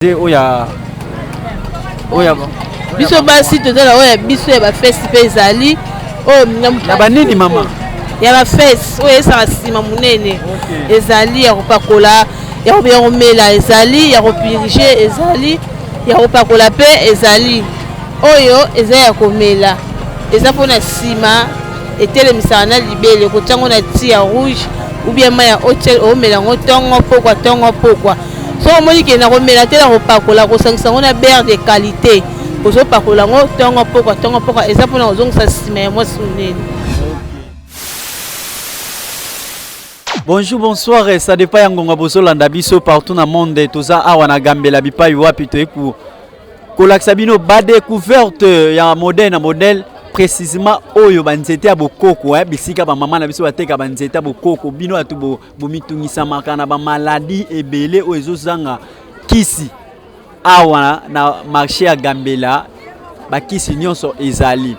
te oya oya biso basi toza na oyo ya biso ya bafesi mpe ezali oyo ya banini mama ya bafesi oyo esaka nsima monene ezali ya kopakola ya komela ezali ya kopirige ezali ya kopakola mpe ezali oyo eza ya komela eza mpo na nsima etelemisaka na libele kotya yango na ti ya rouge ubien mai ya hotel omela yango ntongo mpokwa ntongo mpokwa soki omoni ke nakomela te nakopakola kosangisa yango na bere de qualité ozopakola yango ntongo mpokwa ntongo mpokwa eza mpona kozongisa nsima ya mwasi monene bonjour bonsoir ça dépend ya ngonga bozolanda biso partout na monde toza awa na gambela bipai wapi toyei kolakisa bino badecouverte ya modèle na modèle précisément oyo banzete ya bokoko eh, bisika bamama na biso bateka banzete ya bokoko bino bato bomitungisamaka na bamaladi ebele oyo ezozanga kisi awa na marché ya gambela bakisi nyonso ezali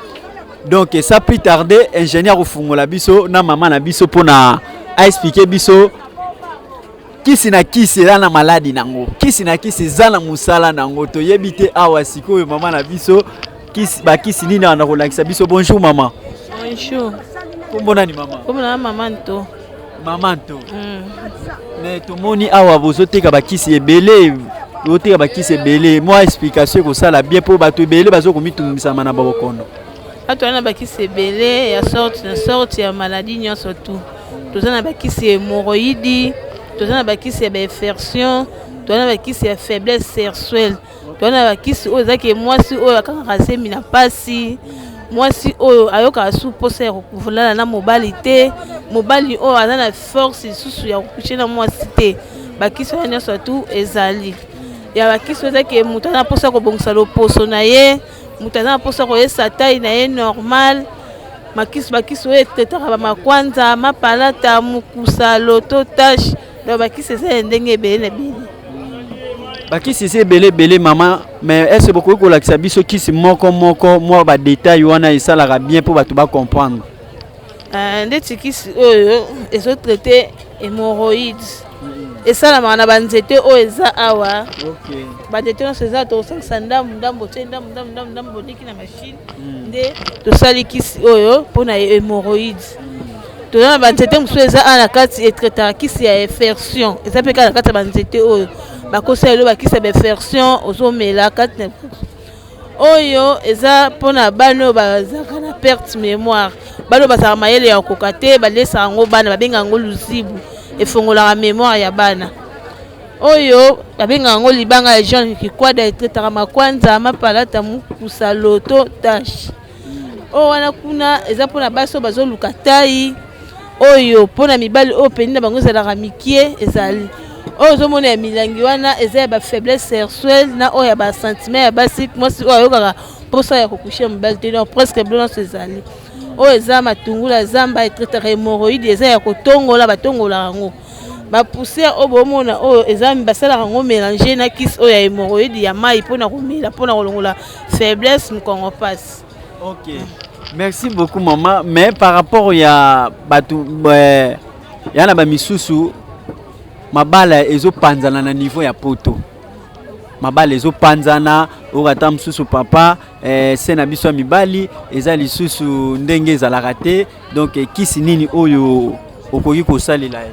donc ça plus tarde ingénieur kofungola biso na mama na biso mpona aexplike biso kisi na kisi eza na maladi nango kisi na kisi eza na mosala nango toyebi te awa sikoyo mama na biso bakisi nini awa na kolakisa biso bonjour mama bonjour kombo nani mama kombo na mama nto Maman to. Mm. Mais tomoni awa bozo teka ba kisi ebele oteka bakisi ebele mwa explication ekosala bien mpo bato ebele bazo komitungisama na babokono bato wana na bakisi ebele ya sorte na sorte ya maladie nyonso tu toza na bakisi ya hemoroïdi toza na bakisi ya bainfersion toza na bakisi ya faiblesse sersuelle twana bakisi oyo ezaki mwasi oyo akangaka zemi na mpasi mwasi oyo ayokaka su mposa ya kolala na mobali te mobali oyo aza na force lisusu ya kokuche na mwasi te bakisi wana nyonso atu ezali ya bakisi oyo ezaki moto aza na mposa ya kobongisa loposo na ye moto aza na mposa koyesa tai na ye normal makisi bakisi oyo etetaka bamakwanza mapalata mokusa loto tashe donc bakisi eza ya ndenge ebele na ebele bakisi eza ebele ebele mama mais ese bokoki kolakisa biso kisi moko moko mwa badetail wana esalaka bien mpo bato bacomprendre euh, ndeti kisi oyo ezotraite hémoroïde esalamaka na banzete oyo eza awa banzete nyonso eza tokosangisa ndambu ndambu otie ndambu ndambu ndambu ndambu oleki na mashine hmm. nde tosali kisi oyo mpo na hémoroïde toza na banzete mosusu eza awa na kati etraitaka kisi ya infersion eza mpe kaka na kati ya banzete oyo bakosa lelo bakisi ya bainfersion ozomela kati na oyo eza mpona bana oyo bazalaka na perte mémoire bana oyo bazalaka mayele ya kokoka te balesaka yango bana babengaka yango luzibu efongolaka mémoire ya bana oyo babengaka yango libanga ya jean kikwada etraitaka makwanza mapalata mokusa loto tashe oyo wana kuna eza mpona basi oyo bazoluka tai oyo mpona mibali oyo peni na bango ezalaka mikie ezali oyo ozomona ya milangi wana eza ya bafaiblesse sersuel na oyo ya basentiment ya basi mwasi oyo ayokaka mposa ya kokushe mobali te donc presque bilo nyonso ezali oyo eza matungula zamba etraitaka hemoroïde eza ya kotongola batongolaka yango ba poussière oyo bomona oyo eza basalaka yango mélange na kisi oyo ya hémorroïde ya mai mpona komela mpona kolongola faiblesse mokongo mpasi ok merci beaucoup mama mais par rapport ya bato eh, ya na bamisusu mabala ezopanzana na niveau ya poto mabala ezopanzana oyo ata mosusu papa eh, se na biso ya mibali eza lisusu ndenge ezalaka te donc eh, kisi nini oyo okoki kosalela ye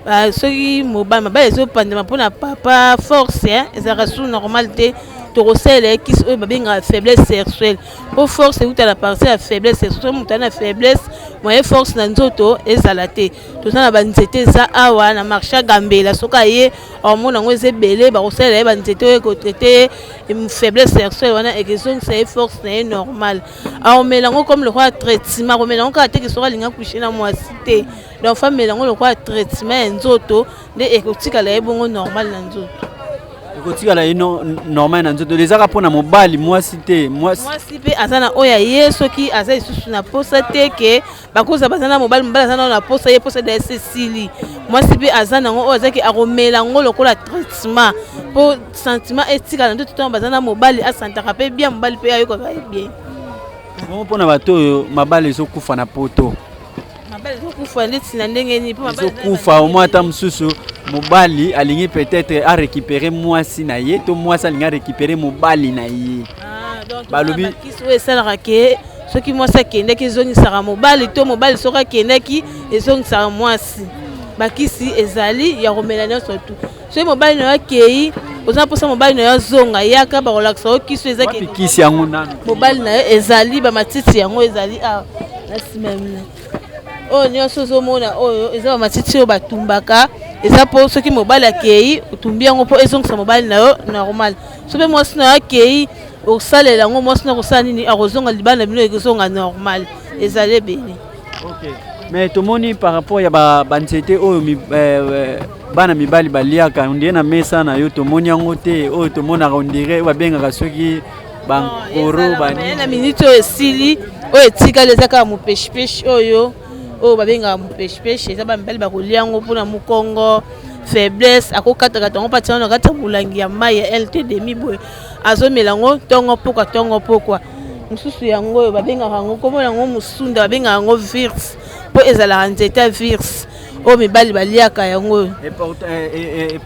ah, soki mobali mabali ezopandama mpo na papa force eh, ezalaka su normal te tokosalela ye kisi oyo babengaka faiblesse sexuelle mpo force euta na partie ya faiblesse sexuelle soki moto na faiblesse moye force na nzoto ezala te toza na banzete eza awa na marché ya gambela soki aye hormone yango eza ebele bakosalela ye banzete oyo ekotraite ye faiblesse sexuelle wana ekezongisa ye force na ye normale aomela yango comme lokola traitement akomela yango kaka te ke soki alingi akushe na mwasi te donc fa amela yango lokola traitement ya nzoto nde ekotikala ye bongo normal na nzoto ekotikala ye normal na nzoto ezaka mpo na mobali mwasi te mwasi mpe aza na oyo ya ye soki aza lisusu na mposa te ke bakoza baza na mobali mobali aza nao na posa ye posa dayesi esili mwasi mpe aza nango oyo azalaki akomela yango lokola traitement mpo sentiment etikala nde totango baza na mobali asantaka mpe bien mobali mpe ayokaka ye bien bongo mpo na bato oyo mabala ezokufa na poto mabala ezokufa ndeti na ndenge nini ezokufa omoi ata mosusu mobali alingi peut-être arécupere mwasi na ye to mwasi alingi arécupere mobali na ye ah, balobi oyo esalaka ke soki mwasi akendaki ezongisaka mobali to mobali soki akendaki ezongisaka mwasi bakisi ezali ya komela nyonso tu soki mobali na yo akei oza na mposa mobali na yo azonga yaka bakolakisa yo kisi eza kisi yango nani mobali na yo ezali bamatiti yango ezali awa na nsima ya mina oyo nyonso ozomona oyo eza bamatiti oyo batumbaka eza mpo soki mobali akei otumbi yango mpo ezongisa mobali na yo normal soki mpe mwasi nayo akei okosalela yango mwasi nayo akosala nini akozonga libanda bino ekozonga normal ezali ebele okay. mais tomoni par rapport ya banzete ba oyo mi, eh, eh, bana mibali baliaka ondire na mesa na yo tomoni yango te oyo tomonaka ondire oyo babengaka soki bankoro banina miniti oyo esili oyo etikali eza kaka mopeshipeshi oyo oyo babengaka mupeshipeshe eza bamibali bakolia yango mpona mokongo faiblesse akokatakata yango mpati wana kati ya molangi ya mai ya lt demi boye azomela yango ntongo pokwa ntongo pokwa mosusu yango oyo babengaka yango nkombo yango mosunda babengaka yango virse mpo ezalaka nzete ya virse oyo mibali baliaka yango oyo eh, eh, eh,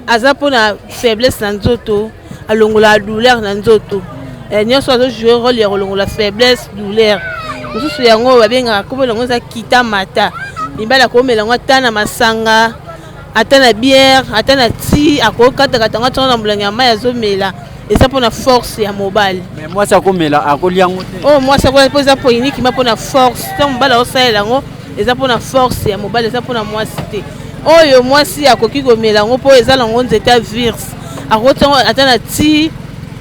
aza mpona faiblesse na nzoto alongola douleur na nzoto eh, nyonso azo joue role ya kolongola faiblesse douleur mosusu yango babengaka kombo yango eza kita mata mibali akomela yango ata na masanga ata na bière ata na ti akokatakata yango atyana na molangi ya mai azomela eza mpo na force ya mobali mwasi akomela akolia yango te oyo oh, mwasi akolia mpo eza poinikima mpo na force ntango mobali aosalela yango eza mpona force ya mobali eza mpona mwasi te oyo mwasi akoki komela yango mpo eza nango nzete ya virse akokoti yango ata na ti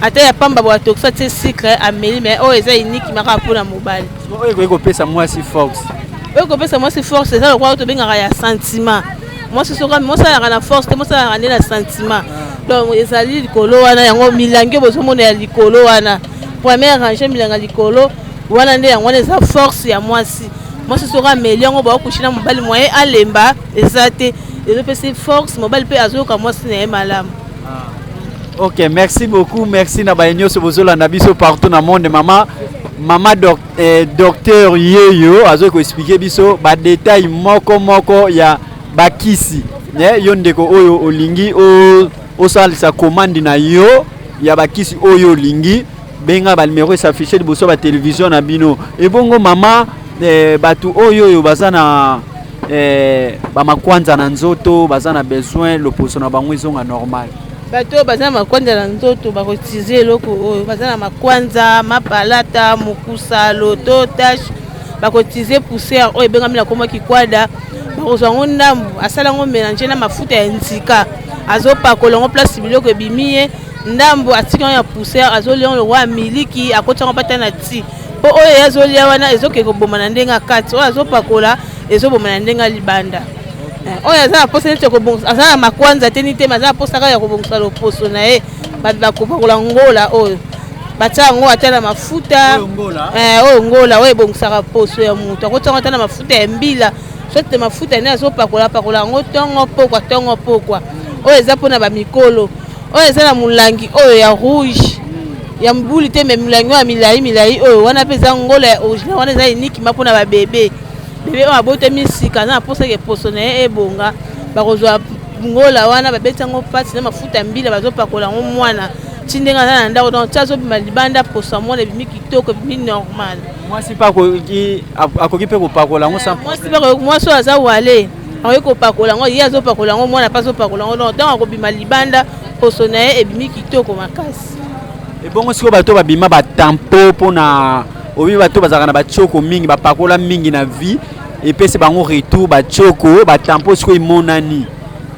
ata ya pamba boya tokisa tie sucre ameli mai oyo eza iniki makaka mpona mobali oyo ekoki kopesa mwasi force oyo kopesa mwasi force eza lokola tobengaka ya sentiment mwasi soki mosalaka na force te mosalaka nde na sentiment ah. donc ezali likolo wana yango milangi oyo bozomona ya likolo wana première range milanga likolo wana nde yango wana eza force ya mwasi mwasi soki ameli yango baokushi na mobali mwa ye alemba eza te ezopesi force mobali mpe azoyoka mwasi na ye malamu ah. ok merci beaucoup merci na baye nyonso bozolanda biso partout na monde mama mama doc, eh, docteur yeyo azoki koexplike biso badetail moko moko ya bakisi eh, yo ndeko oyo olingi osalisa komandi na yo ya bakisi oyo olingi benga ba numero esafiche liboso ba televizio na bino ebongo mama eh, bato oyo oyo baza na eh, bamakwanza na nzoto baza na besoin loposo na bango ezonga normal bato oyo baza na makwanza na nzoto bakotize eloko oyo baza na makwanza mapalata mokusa loto tashe bakotize poussière oyo ebengami na nkombo kikwada bakozwa yango ndambu asala yango mélange na mafuta ya nzika azopakola yango place biloko ebimi ye ndambu atiki yango ya poussière azolia yango lokola ya miliki akoti yango bata na ti mpo oyo ye azolia wana ezokende koboma na ndenge ya kati oyo azopakola ezoboma na ndenge ya libanda eh, oyo aza na mposa neti kobongisa aza na makwanza te nitema aza na mposa kaka ya kobongisa loposo na ye bato bakopakola ngola oyo batya yango ata na mafuta oyo ngola eh, oyo ebongisaka poso ya moto akotya yango ata na mafuta ya mbila soki mafuta nde azopakola pakola yango ntongo pokwa ntongo pokwa oyo eza mpona bamikolo oyo eza na molangi oyo ya rouge ya mbuli te me molangi oyo ya milai milai oyo wana mpe eza ngola ya original wana eza enikima mpona babebe bebe oyo abotami sika aza na mposa ke poso na ye ebonga bakozwa ngola wana babeti yango mpasi na mafuta ya mbila bazopakola yango mwana ti ndenge aza na ndako donc ti azobima libanda poso ya mwana ebimi kitoko ebimi normal mwasi mpe akoki mpe kopakola yango mwasi oyo aza wale akoki kopakola yango ye azopakola yango mwana mpe azopakola yango donc ntango akobima libanda poso na ye ebimi kitoko makasi ebongo sikoyo bato babima batampo mpo na obi bato bazalaka na batioko mingi bapakola mingi na vie epesi bango retour batioko batampo sikoyo emonani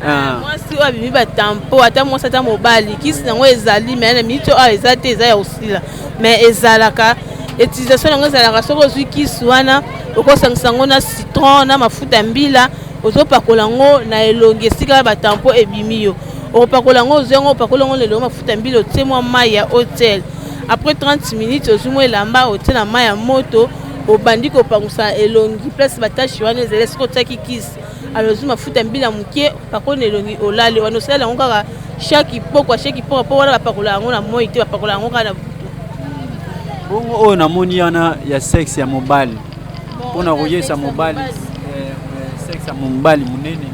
ah. mwasi oyo abimi batampo ata mwasi ata mobali kisi yango ezali mai na miniti oyo eza te eza ya kosila mais ezalaka utilisation yango ezalaka soki ozwi kisi wana okosangisa yango na citron na mafuta ya mbila ozopakola yango na elongi esika ya batampo ebimi yo okopakola yango ozwi yango opakola yango na elongi mafuta ya mbila otie mwa mai ya hotel après 30 minutes ozwi mwa elamba otie na mai ya moto obandi kopangusa elongi place batashi wana ezali esika otiaki kisi alors ozwi mafuta ya mbila moke pakola na elongi olali wana osalela yango kaka shaki pokwa shaki pokwa mpo wana bapakola yango na moi te bapakola yango kaka na butu bongo oyo namoni wana ya sexe ya mobali mpo na koyesa mobali eh, eh, sexe ya mobali monene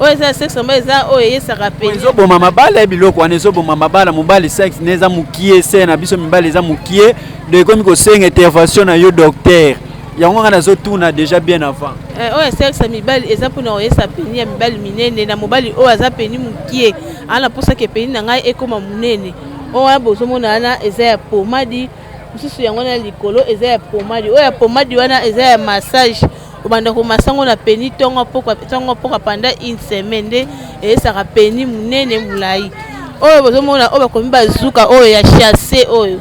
oyo eza ya sexe mobali eza oyo eyesaka mpe ezoboma mabala ya biloko wana ezoboma mabala mobali sexe ne eza mokie se na biso mibali eza mokie donc ekomi kosenga intervention na yo docteur yango nga nazotuna déjà bien avant eh, oyo asalisa mibali eza mpona oyesa peni ya mibali minene na mobali oyo aza peni mokie ana mposaka epeni na ngai ekóma monene oyo wana bozomona wana eza ya pomadi mosusu yango wana likolo eza ya pomadi oyo ya pomadi wana eza ya massage obanda komasa yango na peni ntongo mpoka panda une semaine nde eyesaka peni monene molai oyo bozomona oyo bakomi bazuka oyo ya chasse oyo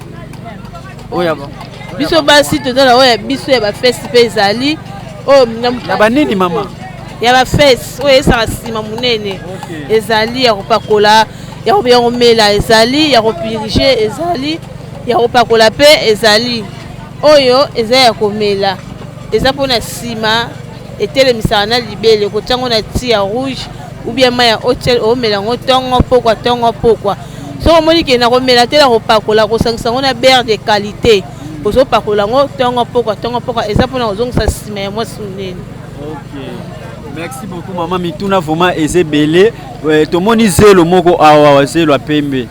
oyo ba biso basi toza na oyo ya biso ya bafesi mpe ezali oyo na banini mama ya bafesi oyo esaka nsima monene ezali ya kopakola ya komela ezali ya kopirige ezali ya kopakola mpe ezali oyo eza ya komela eza mpo na nsima etelemisaka na libele kotya yango na ti ya rouge ou bien mai ya hotel omela yango ntongo mpokwa ntongo mpokwa soki omoni ke na komela te na kopakola kosangisa yango na bere de qualité ozopakola yango ntongo mpokwa ntongo mpokwa eza mpona kozongisa nsima ya mwasi monene merci beaucoup mama mituna vraiment eza ebele eh, tomoni zelo moko awa zelo ya pembe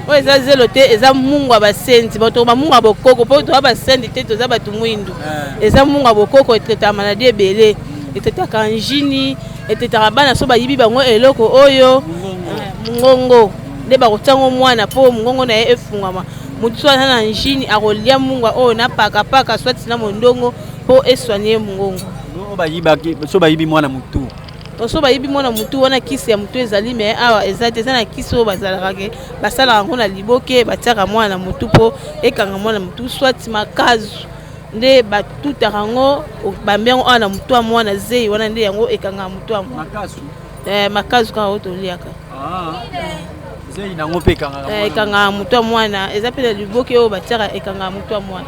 oyo eza zelo te eza mungu ya basenzi bato bamungu ya bokoko mpo toza basenzi te toza bato mwindu eh. eza mungu ya bokoko etetama na di ebele etetaka njini etetaka bana so bayibi bango eloko oyo mongongo nde bakotiango mwana mpo mongongo na ye efungwama motu so aza na njini akolia mungwa oyo na pakapaka swati na mondongo mpo eswani ye mongongo so bayibi mwana motu so bayibi mwana motu wana kisi ya motu ezali me awa eza te eza na kisi oyo bazalaka ke basalaka yango na liboke batiaka mwana na motu mpo ekanga mwana motu swati makazu nde batutaka yango obambi yango awa na motu ya mwana zeyi wana nde yango ekangaka motu ya mwana eh, makazu kaka oyo toliaka ah. zeyi nango mpe eh, ekangaka motu ya mwana eza mpe na liboke oyo batiaka ekangaka motu ya mwana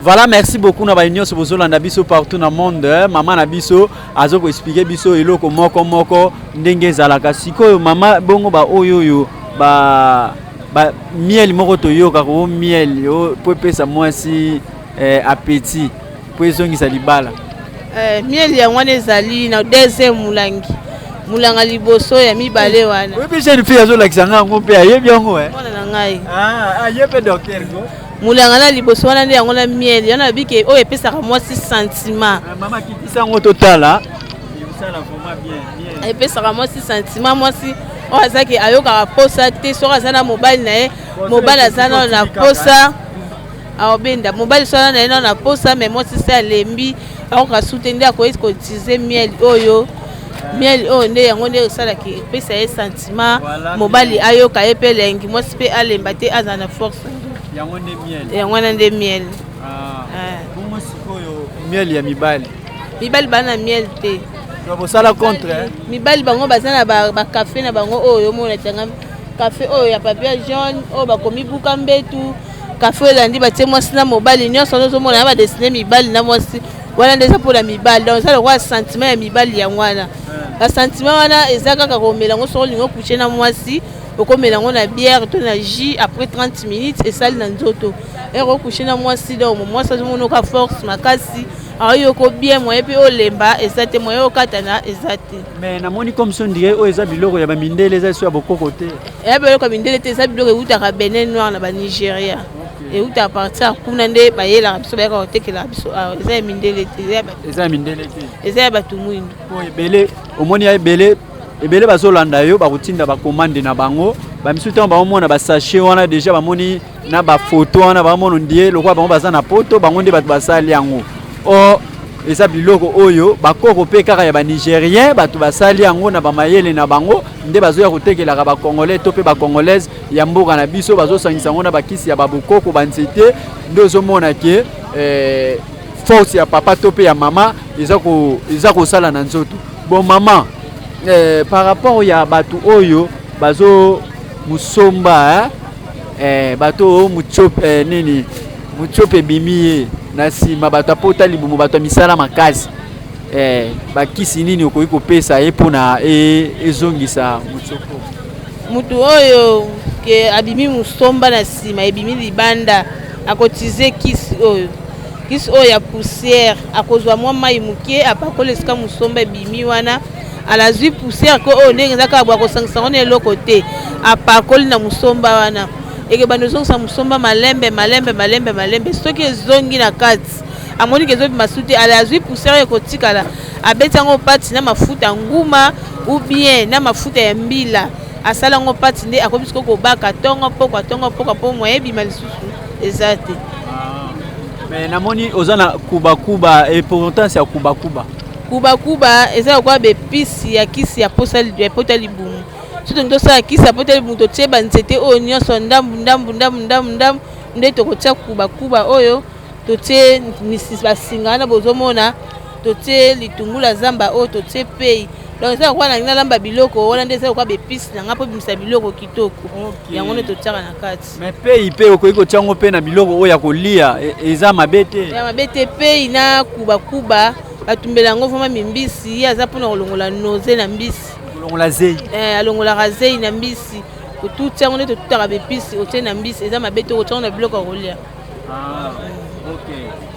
voilà merci beaucoup na baye nyonso bozolanda biso partout na monde eh, mama na biso azo koexplike biso eloko moko moko ndenge ezalaka sikoyo mama bongo baoyo oyo ba ba miel moko toyoka ko miel yo po epesa mwasi eh, appétit po ezongisa libala eh, miel yango wana ezali na deuxième mulangi mulanga liboso ya mibale wana oyebi jeune fille azolakisa ngai yango mpe ayebi yango eh? mwana na ngai ah, aye mpe docteur ko mulanga na liboso wana nde yango na miel yana nabike oyo epesaka mwasi sentiment ah, mama kitisa yango totala epesaka mwasi sentiment mwasi oyo azaki ayokaka posa te soki aza na mobali na ye mobali aza nao na posa aobenda mobali soki aza na ye nao na posa mai mwasi se alembi akoka su te nde akoki kotize miel oyo miel oyo nde yango nde esalaki epesa ye sentiment mobali ayoka ye mpe elengi mwasi mpe alemba te azala na force yango wana nde miel ah. eh. miel ya mibali mibali baa na miel te bosala contre eh? mibali bango baza na bacafe na bango oyo omona tanga kafe oyo ya papier jaune oyo bakomi buka mbetu kafe oyo elandi batie mwasi na mobali nyonso wana ozomona na badesine mibali na mwasi wana nde eza mpona mibali donc eza lokola sentiment ya mibali yango wana eh. basentiment wana eza kaka komela yango soko olingi okuche na mwasi okomela yango na bière to na jus après 30 minutes esali na nzoto ere okuche na mwasi donc mwasi azomonoka force makasi Ah, yo ko bien moyen pe olemba eza te moyen okatana eza te mais namoni comme son dirait oyo eza biloko ya bamindele eza eso ya bokoko te eh, ya biloko ya mindele te eza biloko eutaka benin noir na banigeria euta à partir kuna nde bayelaka biso bayaka kotekelaka biso awa ah, eza ya mindele te eza ya mindele te eza ya bato mwindo po ebele omoni ya ebele ebele bazolanda yo bakotinda bakomande na bango bamisusu ntango baomona basachet wana deja bamoni na ba photo wana ba mono ndie lokola bango baza na poto bango nde bato basali yango or eza biloko oyo bakoko mpe kaka ya banigerien bato basali yango na bamayele na bango nde bazoya kotekelaka bacongolais to mpe bacongolaise ya mboka na biso bazosangisa yango na bakisi ya babokoko banzete nde ozomona ke eh, force ya papa to mpe ya mama eza kosala na nzoto bon mama eh, par rapport ya bato oyo bazo mosomba eh? Eh, bato oyo mutshop eh, nini mutshop ebimi ye na nsima bato apota libumu bato ya misala makasi eh, bakisi nini okoki kopesa ye mpo na e, ezongisa mutshop motu oyo ke abimi mosomba na nsima ebimi libanda akotize kisi oyo kisi oyo ya poussière akozwa mwa mai moke apakola esika mosomba ebimi wana alazwi poussière ko oyo ndenge eza kaka bwa kosangisa yango na eloko te apakoli na mosomba wana ekebanda ozongisa mosomba malembe malembe malembe malembe soki ezongi na kati amoni ke ezobima su te ala azwi poussière ekotikala abeti yango pati na mafuta ya nguma ou bien na mafuta ya mbila asala yango pati nde akomi sikoyo kobaka ntongo mpokwa ntongo mpokwa mpo moye ebima lisusu eza te ah. mais namoni oza na kubakuba importance ya kubakuba Kuba kuba eza lokola ba epice ya kisi ya posa ya pota libumu. Soki tolingi tosala kisi ya pota libumu totie ba nzete oyo nyonso ndambu ndambu ndambu ndambu ndambu nde tokotia kuba kuba oyo totie misis basinga wana bozomona totie litungula zamba oyo totie pei donc eza lokola nalingi nalamba biloko wana nde eza lokola ba epice na ngai mpo ebimisa biloko kitoko yango nde totiaka na kati Mais pei pe okoki kotia yango mpe na biloko oyo ya kolia e, eza mabe te ya mabe te pei na kubakuba batumbela yango vraimen mimbisi ye aza mpona kolongola noze na mbisi kolongola zei eh, alongolaka zei na mbisi otuti yango nde totutaka bepisi otie na mbisi eza mabe te okotia yango na biloko ya kolia ah,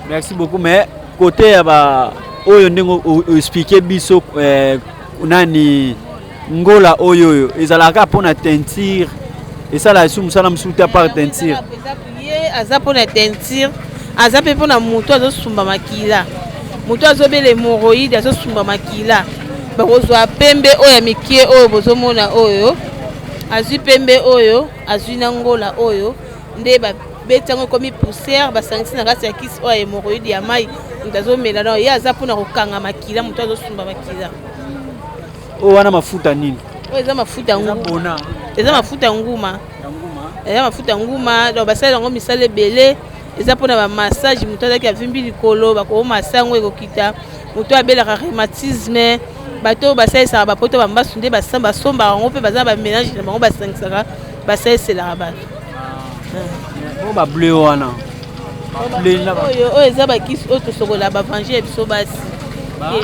merci beaucoup mais kote ya ba oyo ndenge oexplike biso eh, nani ngola oyo oyo ezalaka kaka mpona teinture esalaka esu mosala mosusu te apart teinture ye aza mpona teinture aza mpe mpona moto azosumba makila moto azobela hemoroïde azosumba makila bakozwa pembe oyo ya mikie oyo bozomona oyo azwi pembe oyo azwi na ngola oyo nde babeti yango ekomi poussière basangisi na kati ya kisi oyo ya hemoroïde ya mai moto azomela nao ye aza mpona kokanga makila moto azosumba makila Oyo wana mafuta nini? Oyo eza mafuta ya nguma. Eza mafuta ya nguma. Eza mafuta ya nguma, donc basala yango misala ebele. Eza mpona ba massage, moto azalaki avimbi likolo bakomasa yango ekokita. Moto abelaka rhumatisme, bato oyo basalisaka bapoto bambasu nde basombaka yango mpe baza na bamélange na bango basangisaka basaliselaka bato. Ah. Oyo ba bleu wana? oyo oyo eza bakisi oyo tosokola bavange ya biso basi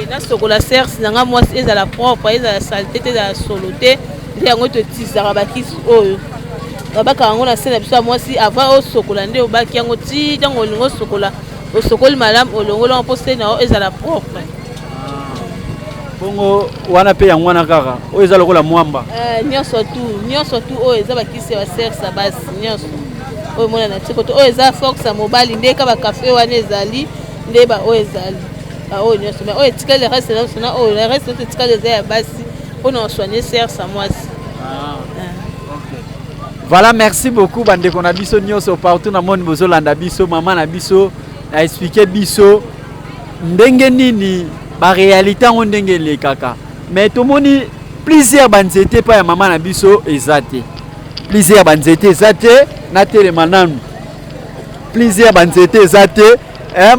nasokola serce na ngai mwasi ezala propre ezala salite te ezala solo te nde yango totisaka bakisi oyo babaka yango na se na biso ya mwasi avant osokola nde obaki yango ti ntango olingi osokola osokoli malamu olongoli yango mpo se na yo ezala propre bongo wana mpe yango wana kaka oyo eza lokola mwamba eh, nyonso tu nyonso tu oyo eza bakisi ya baserce ya basi nyonso oyo emonana ti koto oyo eza force ya mobali nde ka bakafe wana ezali nde baoyo ezali baoyo nyonso me oyo etikali reste nyonso na oyo reste nyonso etikali eza ya basi mpo na osoigne sersa mwasi ah. voilà merci beaucoup bandeko na biso nyonso partout na moni bozolanda biso mama na biso na explike biso ndenge nini barealité yango ndenge elekaka mais tomoni Plusieurs ba nzete pa ya mama na biso eza te. Plusieurs ba nzete eza te na telema nanu. Plusieurs ba nzete eza te. Eh,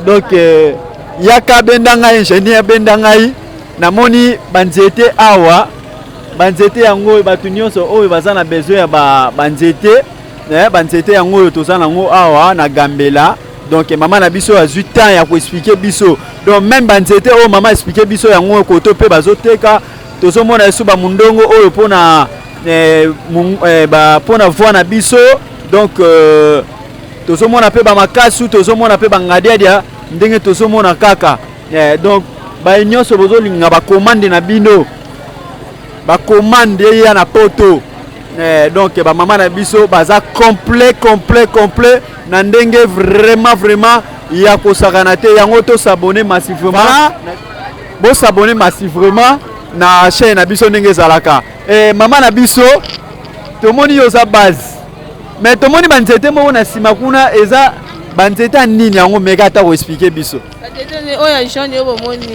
donc euh, yaka benda ngai ingénieur benda ngai namoni ba nzete awa ba nzete yango oyo bato nyonso oyo baza na besoin ya ba, ba nzete eh, ba nzete yango oyo toza nango awa na gambela donc mama na biso azwi temps ya koexplike biso donc meme banzete oyo mama explike biso yango koto mpe bazoteka tozomona yesu bamundongo oyo mpo na eh, eh, mpo na voi na biso donc euh, tozomona mpe bamakasu tozomona mpe bangadiadia ndenge tozomona kaka eh, donc baye nyonso bozolinga bakomande na bino bakomande eya na poto donc bamama na biso baza complet complet complet na ndenge vraiment vraiment ya kosakana te yango to s'abonner massivement voilà. bo s'abonner massivement na chaîne na biso ndenge ezalaka eh, mama na biso tomoni yo oza base mais tomoni banzete moko na nsima kuna eza banzete ya nini yango meka ata koexplike biso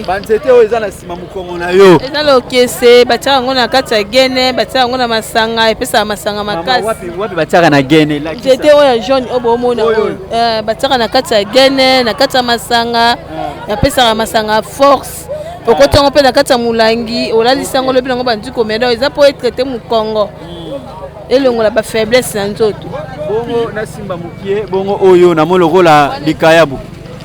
banzete oyo eza na nsima mokongo na yo eza lokese batiaka yango na kati ya gene batiaka yango na masanga epesaka masanga makasiwapi batiaka na gene nzete oyo ya jaune oyo bomona oyo eh, batiaka na kati ya gene na kati ya masanga eh. epesaka masanga force okoti yango mpe na kati ya molangi olalisi yango lobi nango bandi komela eza mpo etraite mokongo hmm. elongola bafaiblesse na nzoto bongo nasimba mokie bongo oyo namoni lokola likayabu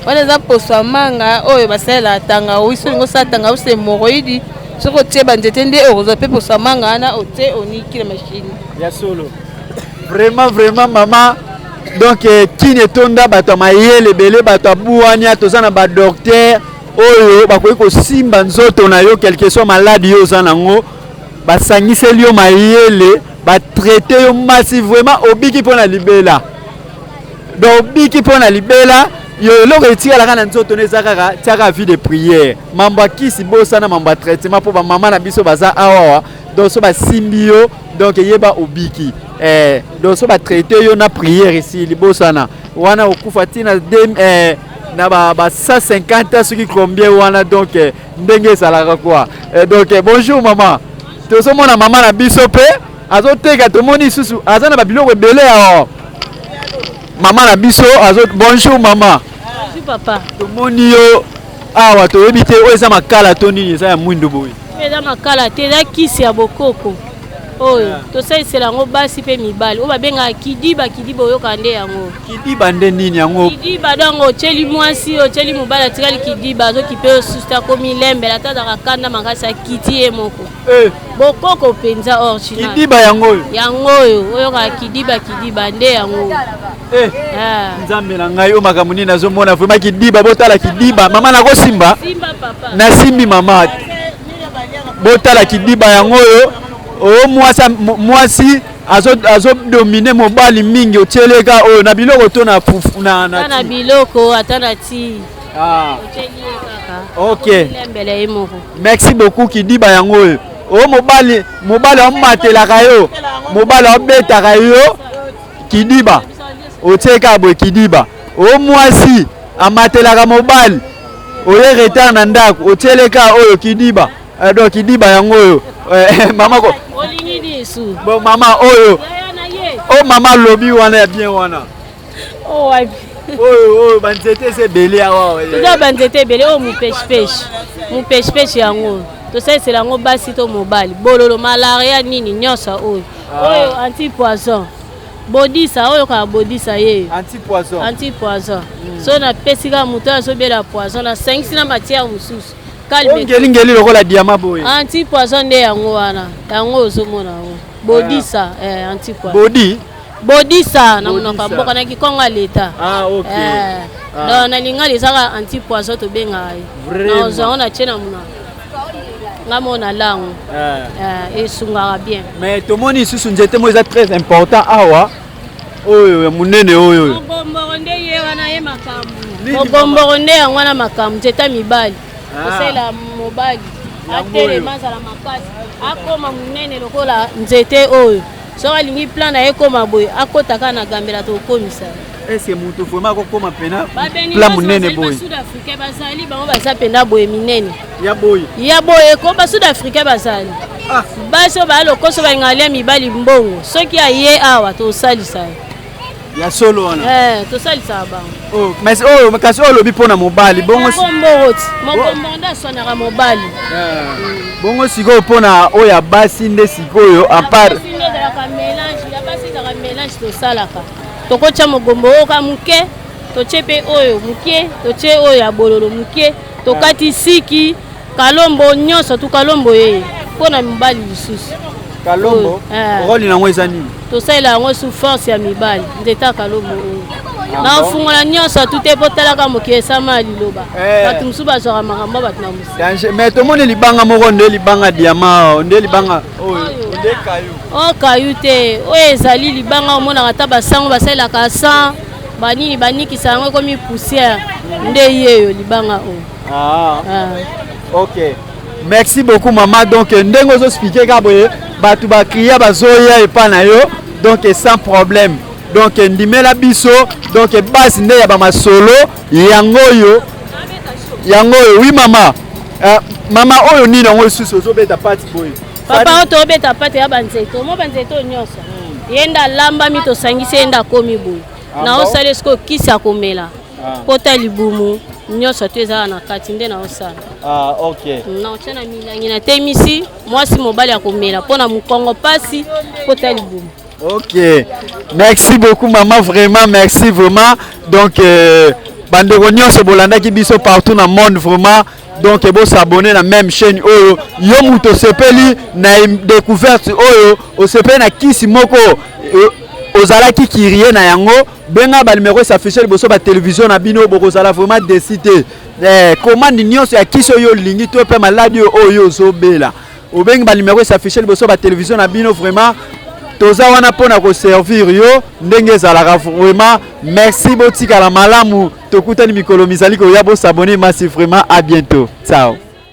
wana eza poso ya manga oyo basalela tangawisi olingi osala tangawisi hemoroidi soki otie banzete nde okozwa mpe poso ya manga wana otie oniki na mashini ya solo vraiment vraiment mama donc eh, kini etonda bato ya mayele ebele bato ya buwania toza na badoktere oyo bakoki kosimba nzoto na yo quelque soit maladi yo oza nango basangiseli yo mayele batraite yo masi vraiment obiki mpo na libela donc obiki mpo na libela yo eloko etikalaka na nzoto na eza kaka tiaka vie de prière mambo ya kisi bosana mambo ya traitement mpo bamama na biso baza awawa donc so basimbi yo donc eyeba obiki eh, donc so batraite yo na prière esili bosana wana okufa ntina eh, na ba, ba 150 soki combien wana donc eh, ndenge ezalaka quoi eh, donc eh, bonjour mama tozomona mama na biso mpe azoteka tomoni lisusu aza na babiloko ebele ya mama na biso azo bonjour mama bonjour papa tomoni yo awa toyebi te oyo eza makala to nini eza ya mwindo boye eza makala te eza kisi ya bokoko oyo yeah. tosalisela yango basi mpe mibali oyo babengaka kidiba kidiba oyoka nde yango kidiba nde nini yango kidiba dongo otyeli mwasi otyeli mobali atikali kidiba azokipe osusu te akomi lembela ata azaka kanda makasi akiti ye moko Eh. bokoko mpenza orginal kidiba yango oyo yango oyo oyokaka kidiba kidiba nde yango eh. ah. nzambe na ngai oyo makambo nini nazomona vraimen kidiba botala kidiba mama nakosimba nasimbi mama botala kidiba yango oyo oyo oh, mwasi azodomine azo mobali mingi otyeleka oyo na biloko to na, na, na, na biloko ata na tii Ah. Ok. Merci beaucoup Kidiba yango oyo. O oh, mobali mobali amatelaka yo. Mobali abetaka yo Kidiba. Otieka boye Kidiba. O oh, mwasi amatelaka mobali. Oye retard na ndako otieleka oyo Kidiba. Eh, donc Kidiba yango oyo. Eh, mama ko. Olingi lisu. Bon mama oyo. Oh mama lobi wana ya bien wana. Oh, wapi? oyo oyo banzete eza ebele awa toza banzete ebele oyo mupeshipeshe mupeshipeshe yango tosalisela yango basi to mobali bololo malaria nini nyonso oyo ah. oyo anti poison bodisa oyo kaka bodisa ye anti poison anti poison hmm. so napesi kaka moto oyo azobela poison nasangisi na matière mosusu kalngelingeli lokola diama boye anti poison nde yango wana yango ozomona yango bodisa ah. eh, anti poison bodi Bodisa na monoko ya mboka na kikongo ya leta. Ah OK. Eh. Ah. Donc na lingala ezaka anti poison tobengaka ye. Na ozwa yango na tie na monoko. nga mona lango eh. eh, esungaka bien mais tomoni lisusu nzete moko eza très important awa oyo ya monene oyo mogomboro nde ye wana ye makambo mogomboro nde yango wana makambo nzete ya mibali ah. kosala mobali atelema azala makasi akoma monene lokola nzete oyo soki alingi plan na ye ekoma boye akota kaka na gambela tokomisa ese moto vraimen akokoma mpena pla monene boye sud africain bazali bango baza mpena boye minene ya boye ya boye ko ba sud africain bazali ah. basi oyo baya lokoso balingaka lia mibali mbongo soki aye awa tosalisa ye ya solo wana eh, tosalisaka bango oh, mais oyo oh, kasi oyo olobi mpo na mobali bongombongoti mokombongo nde aswanaka mobali eh, bongo sikoyo mpo na oyo ya basi nde sikoyo apart ezalaka mélange ya basi ezalaka mélange tosalaka tokotya mogombo oyo ka moke totye mpe oyo moke totye oyo ya bololo moke tokati siki Kalombo nyonso tu kalombo ye mpo na mibali lisusu. Kalombo eh. role nango eza nini? Tosalela yango sous force ya mibali nde ta kalombo oyo. Ah, naofungola nyonso tu te mpo talaka mokili esama ya liloba eh. bato mosusu bazwaka makambo bato na mosi mais tomoni libanga moko nde libanga diama nde libanga oyo o kayu oh, te oyo ezali libanga omonaka ata basango basalelaka san banini banikisa yango ekomi poussière nde yeyo libanga oyo Ah. Ah. Ok. Merci beaucoup maman. Donc ndenge ozo expliquer ka boye bato ba kriya bazoya epa na yo donc sans problème. Donc ndimela biso donc base nde ya ba masolo yango oyo yango oyo oui maman. Euh, maman oyo nini yango lisusu ozobeta pati boye papa oyo tobeta pati ya banzete omo banzete oyo nyonso hmm. ye nde alambami tosangisi ye nde akomi boye ah, na osali esiko kisi akomela Ah. pota libumu nyonso to ezala na kati nde naosala ah, okay. Mm, naotya na milangi natemisi mwasi mobali ya komela mpo na mokongo mpasi pota libumu ok merci beaucoup maman vraiment merci vraiment donc euh, bandeko nyonso bolandaki biso partout na monde vraiment donc bosabone na même chaîne oyo yo moto osepeli na découverte oyo osepeli na kisi moko euh, ozalaki kirie na yango benga ba numero esaffiche liboso ba television na bino bokozala vraiment desi te eh, commande nyonso ya kisi oyo olingi to mpe maladi oyo ozobela obengi ba numero esaffiche liboso ba television na bino vraiment toza wana mpo na koservir yo ndenge ezalaka vraiment merci botikala malamu tokutani mikolo mizali koya bosabone masi vraiment a bientôt ciao